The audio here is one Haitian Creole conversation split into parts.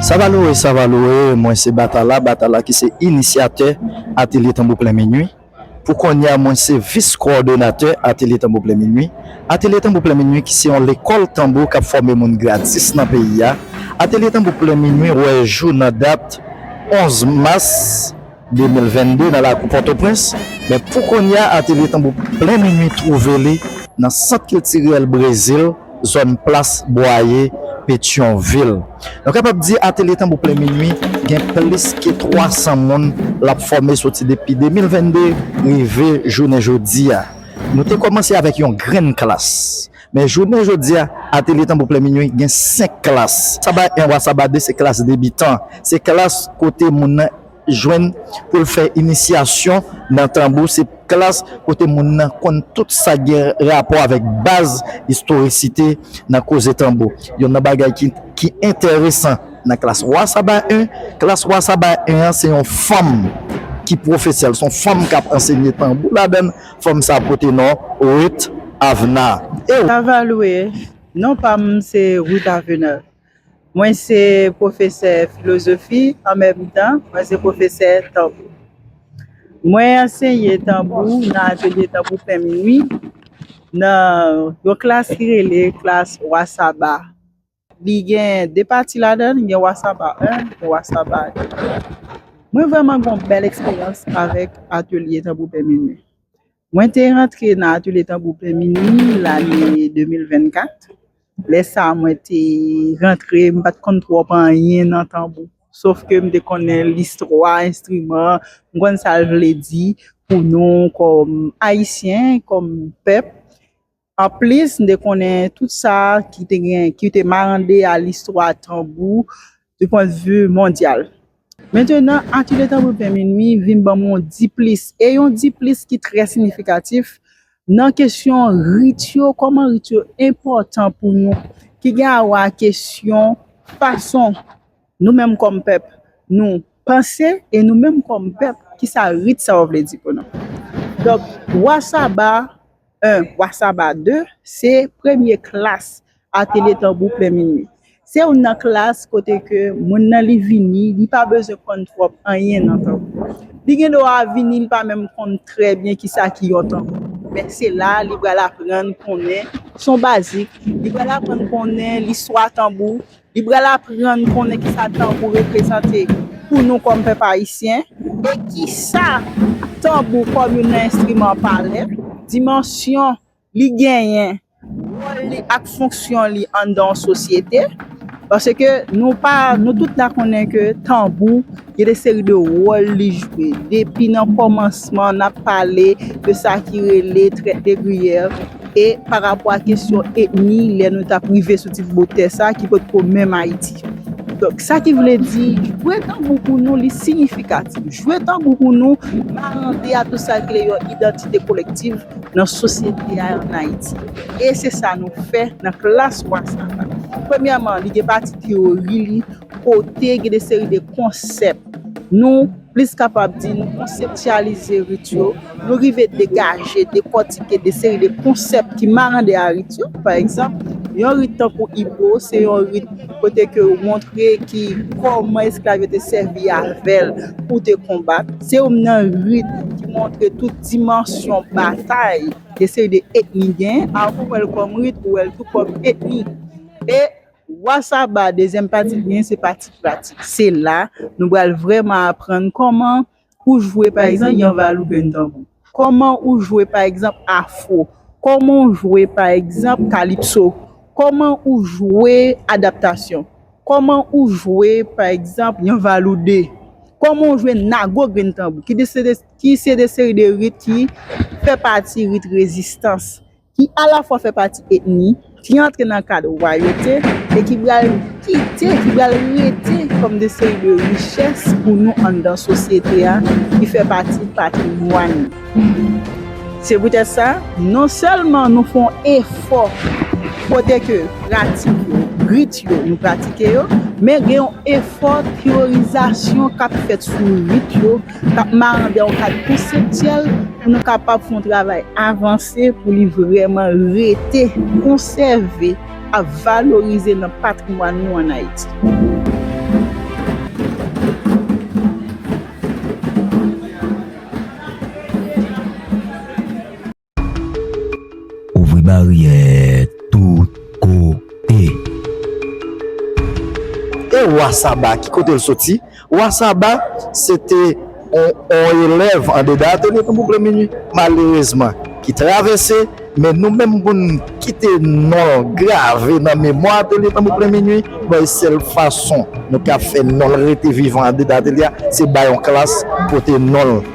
Savalore Savalore Mwen se Batala Batala ki se inisyatè Atelye Tanbou Plen Minwi. Pou kounye a, mwen se vis kowòdonatè Atelye Tanbou Plen Minwi. Atelye Tanbou Plen Minwi ki se yon lekòl tanbou k ap fòme moun gratis nan peyi a. Atelye Tanbou Plen Minwi wè jou nan dat 11 mas. 2022 nan lakou Pòtoprens, men pou kounya Atelye Tanbou Plen Minui twouve li nan Sant Kiltirèl Brezil, zòn Plas Bwaye, Petyonvil. Nou kapab di Atelye Tanbou Plen Minui gen plis ke 300 moun l ap fòme soti depi 2022 rive jounen jodi a. Nou te kòmanse avèk yon grenn klas, men jounen jodi a Atelye Tanbou Plen Minui gen 5 klas, Saba 1 wa Saba 2 se klas debitan, se klas kote moun nan. jwenn pou l fè inisyasyon nan tanbou se klas kote moun nan konn tout sa k gen rapò avèk baz istorisite nan koze tanbou. Yonn nan bagay ki enteresan nan klas Wa Saba 1, klas Wa Saba 1 an se yon fanm ki pwofesè l, s on fanm k ap ansenye tanbou ladan l, fanm sa a pote non Ruth Avenard. Ew. Savalwe, Non pa m se Ruth Avenard. Mwen se pwofesè filozofi, an menm tan, mwen se pwofesè tanbou. Mwen anseye tanbou nan atelye tanbou pen minwi, nan yon klas ki rele klas Wa Saba. Li gen de pati ladan l, gen Wa Saba 1, gen Wa Saba 2. Mwen vrèman gen yon bèl eksperyans avèk atelye tanbou pen minwi. Mwen te rantre nan Atelye Tanbou Plen Minwi lane 2024. Lè sa a mwen te rantre, m pa t konn twòp anyen nan tanbou. Sof ke m te konnen listwa enstriman an, m konn sa l vle di pou nou kòm Ayisyen, kòm pèp. Anplis, n te konnen tout sa ki te gen, ki te marande a listwa tanbou du pwen de vu mondyal. Mentenan, Atelier Tanbou Pen Minui vin ban mwen yon diplis, e yon diplis ki trè sinifikatif, nan kesyon rit yo, kòman rit yo enpòtan pou nou, ki gen awè a kesyon fason nou menm kòm pèp nou panse, e nou menm kòm pèp, ki sa rit sa yo vle di pou nou. Donk, Wa Saba. 1, Wa Saba 2, Se premye klas Atelye Tanbou Plen Minwi. Se youn nan klas kote ke moun nan li vini, li pa bezwen konn twòp anyen nan tanbou. Li gen dwa vini, li pa menm konn trè byen kisa ki yon tanbou. Men se la li pral aprann konnen son bazik, li pral aprann konnen listwa tanbou, Li pral aprann konnen kisa tanbou reprezante pou nou kòm pèp ayisyen e kisa tanbou kòm youn nan enstriman pale, dimansyon li genyen, wòl li ak fonksyon li anndan yon sosyete. Paske nou pa, nou tout la konnen ke tanbou. Gen de seri de wòl li jwe. Depi nan kòmansman n ap pale de sa ki rele traite de grief e pa rapò a kesyon etni lè nou t ap rive sou tit botè sa ki pot ko menm Ayiti. Donk sa ki vle di jwe tanbou pou nou li siyifikatif. Jwe tanbou pou nou marande a tou sa ki rele yon idantite kolektif nan sosyete a an Ayiti. E se sa nou fè nan klas Wrasaka. Premyèman li gen pati teyori li. kote gen de seri de konsèp nou plis kapab di nou konseptyalize rit yo, nou rive degaje, dekòtike de seri de konsèp ki marande a rit yo. Pa egzanp, yon rit tankou Ibo se yon rit kote ke ou montre ki kòman esklav yo te sèvi avè l pou te konbat. Se youn nan rit ki montre tout dimansyon batay de seri de etni genyen. A ou wè l kòm rit, ou wè l tou kòm etni. E. Wa Saba, dezyèm pati byen se pati pratik. Se la nou pral vrèman aprann kòman ou jwe pa egzanp yon valou grenn tanbou. Kòman ou jwe pa egzanp afro. Kòman ou jwe pa egzanp kalipso. Kòman ou jwe adaptasyon. Kòman ou jwe pa egzanp yon valou 2. Kòman ou jwe nago grenn tanbou ki se de seri de rit ki fè pati rit rezistans ki alafwa fè pati etni, ki antre nan kad wayote e ki pral kite, ki pral rete kòm de seri de richès pou nou anndan sosyete a, ki fè pati patrimwàn nou. Se poutèt sa, non sèlman nou fè yon efò kote ke pratik yo, rit yo, nou pratike yo, men gen yon efò teyorizasyon k ap fèt sou rit yo, K ap marande yon kad konseptyèl pou nou kapab fè yon travay avanse pou li vrèman rete, konsève ak valorize nan patrimwàn nou an Ayiti. Ouvri baryè tout kote. E Wa Saba, ki kote l soti? Wa Saba se te yon elèv andedan atelye Tonton Blanminwi, malerezman, ki travèse, men nou menm pou n kite non l grave nan memwa atelye Tonton Blanminwi, bay sèl fason nou ka fè non l rete vivan andedan atelye a, se bay yon klas pote non l.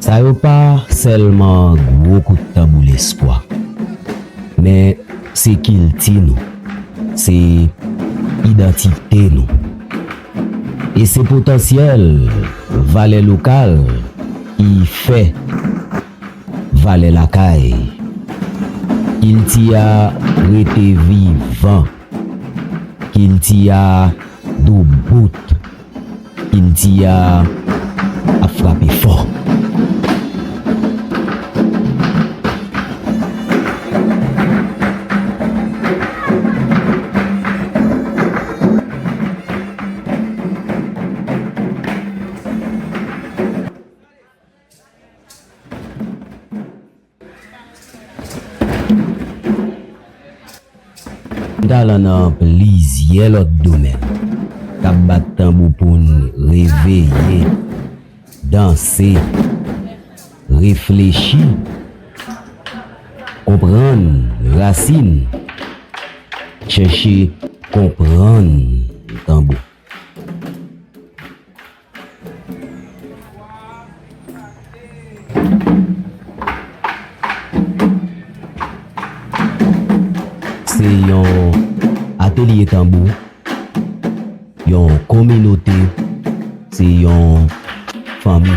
Sa yo pa sèlman gwo kout tanbou lespwa, men se kilti nou, se idantite nou, e se potansyèl valè lokal ki fè valè lakay. Kilti a rete vivan. Kilti a do bout. Kilti a ap frape fò. Gen talan nan plizyè lòt domèn k ap bat tanbou pou n reveye, danse, reflechi, konprann rasin, chèche konprann tanbou. Se yon atelye tanbou, yon kominote, se yon fanmi.